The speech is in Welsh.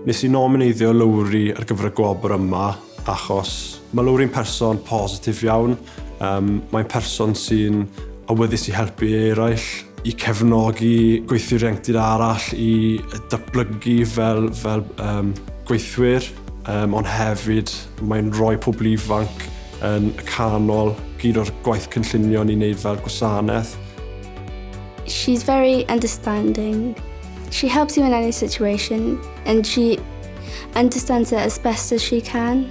Nes i nomineiddio Lowri ar gyfer y gwobr yma achos ma' Lowri'n person positif iawn Um, mae'n person sy'n awyddus i helpu eraill, i cefnogi gweithwyr ieuenctid arall, i datblygu fel, fel um, gweithwyr, um, ond hefyd mae'n rhoi pobl ifanc yn y canol gyd o'r gwaith cynllunio ni'n neud fel gwasanaeth. She's very understanding. She helps you in any situation and she understands it as best as she can.